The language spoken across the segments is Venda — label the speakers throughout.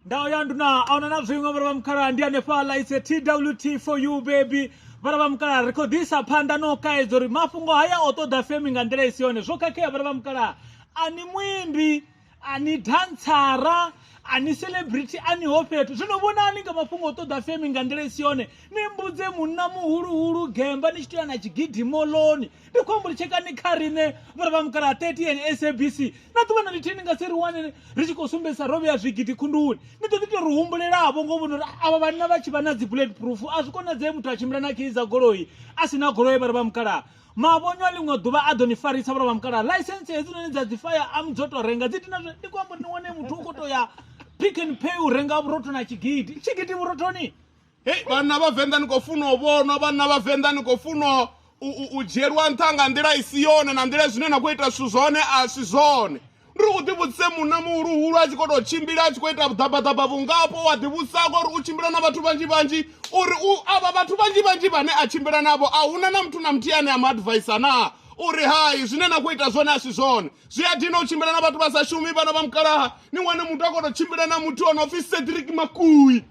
Speaker 1: ndawo ya nduna aona na zwiṅwe vhara vha mukhala ndi hanefhaḽa its a twt for you baby vhara vha mukhala ri khou ḓisa phanḓa no kaedza uri mafhungo haya o ṱoḓa femi nga nḓila i si yone zwo khakhea vhara vha mukhala a ni muimbi a ni dantsara a ni celebrity a ni ho fhethu zwino vhonani nga mafhungo o ṱoḓa femi nga nḓila i si yone ni mbudze munna muhuluhulu gemba ni tshi tea na tshigidimoloni ndi khou ambo litshekani kha riṋe vhura vha mukala 30 sabc na ḓuvha na lithihi ni nga si ri wane ri tshi khou sumbedzisa ro vhea zwigidi khunduni ni ḓo ḓi to ri humbulelavho ngo vhona uri avha vhanna vha tshi vha na dzi bullet proof a zwi konadzee muthu a tshimbila na kheyi dza goloi a si na goloi vhura vha mukala mavhonywa ḽiṅwe ḓuvha a ḓo ni farisa vhura vha mukala license hedzinoni dza dzi fire am dzo to renga dzi dina ndi khou amba uri ni wane muthu u khou to ya pick and pay u renga vhurotho na tshigidi tshigidi vhurothoni hei vhanna
Speaker 2: vha venḓa ni khou funa u vhonwa vhanna vha venḓa ni khou funa u dzhielwa nṱha nga nḓila i si yone na nḓila zwine na khou ita zwithu zwone a si zwone ndi ri u ḓivhudzise munna muhuluhulu a tshi khou tou tshimbila a tshi khou ita vhuḓabaḓaba vhungapo wa ḓivhudzisa ko uri u tshimbila na vhathu vhanzhi vhanzhi uri u avha vhathu vhanzhi vhanzhi vhane a tshimbila navho a huna na muthu na muthihi ane a mu advaisa naa uri hai zwine na khou ita zwone a si zwone zwi a dina u tshimbila na vhathu vha sa shumi vhana vha mukalaha ni wane muthu a khou tou tshimbila na muthu o no pfhi cedric makui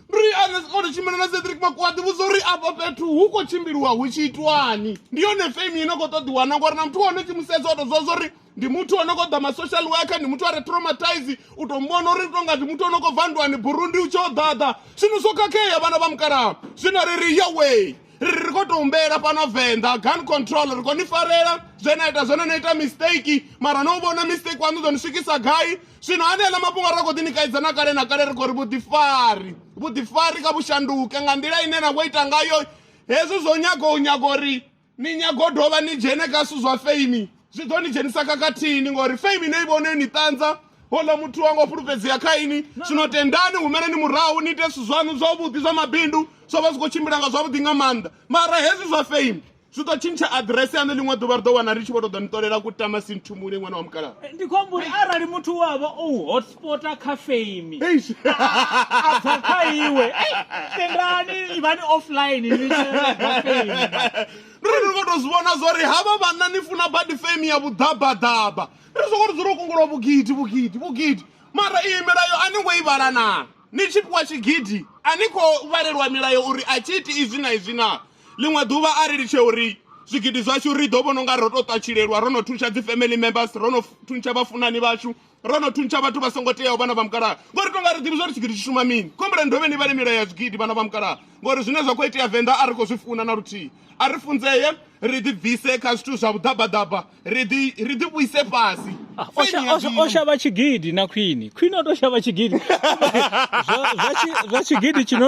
Speaker 2: ri ane o ri tshimbila na cedric makwati vhudza uri afha fhethu hu khou tshimbiliwa hu tshi itwani ndi yone fame ine khou ṱoḓiwana ngori na muthu wane tshi mu sedza o to zwa zwori ndi muthu o no khou ḓa ma-social worker ndi muthu a re traumatize u to muvhona uri tonga ndi muthu o no khou bva ndwani burundi u tshi o ḓaḓa zwino zwo khakhea vhana vha mukalaha zwino ri ri yoway ri ri khou tou humbela fhano venḓa gun control ri khou ni farela zwe na ita zwone no ita mistake mara no vhona mistake waṋu ḓo ni swikisa gai zwino haneaḽa mafhungo a ri khou ḓi ni kaidza na kale na kale ri khou ri vhuḓifari vhuḓifari kha vhushanduke nga nḓila ine na khou ita ngayo hezwi zwo nyaga u nyaga uri ni nyaga u dovha ni dzhene kha zwithu zwa feimi zwi ḓo ni dzhenisa khakhathini ngori fame ine i vhone yo ni ṱanza hola muthu wanga o fhulufhedzea kha ini zwino tendani humeleni murahu ni ite zwithu zwaṋu zwavhuḓi zwa mabindu zwo vha zwi khou tshimbila nga zwavhuḓi nga maanḓa mara hezwi zwa fame zwi ḓo tshintsha aḓirese yaṋu ḽiṅwe ḓuvha ri ḓo wana ri tshi vho to ḓo ni ṱolela ku tama sinthumule ṅwana wa mukalaha Eh, ndi khou amba uri arali
Speaker 1: muthu we a vha o u hotspota kha fame Eish. a bva kha iwe ei, tendani ivhani offline ni tshi renga fame ndi
Speaker 2: ri ni khou tou zwi vhona zwo ri havha vhanna ni funa badi fame ya vhuḓabaḓaba ri soko ri dzula u kungulwa vhugidi vhugidi vhugidi mara iyi milayo a ni ngo i vhala naa ni tshi fhiwa tshigidi a ni khou vhalelwa milayo uri a tshi iti izwi na izwi naa ḽiṅwe ḓuvha a ri litshe uri zwigidi zwashu ri ḓo vhona unga ro to ṱatshilelwa ro no thuntsha dzi family members ro no thuntsha vhafunani vhashu ro no thuntsha vhathu vha songo teaho vhana vha mukalaha ngori tonga ri ḓivhi zwa ri tshigidi tshi shuma mini khombulani dovhe ni vhale milayo ya zwigidi vhana vha mukalaha ngori zwine zwa khou itea venḓa a ri khou zwi funa na luthihi a ri funzeye ri ḓi bvise kha zwithu zwa vhuḓabaḓaba ri ḓi vhuise fhasi ah, o
Speaker 1: shavha tshigidi na khwini khwini o to shavha tshigidi zwa tshigidi tshino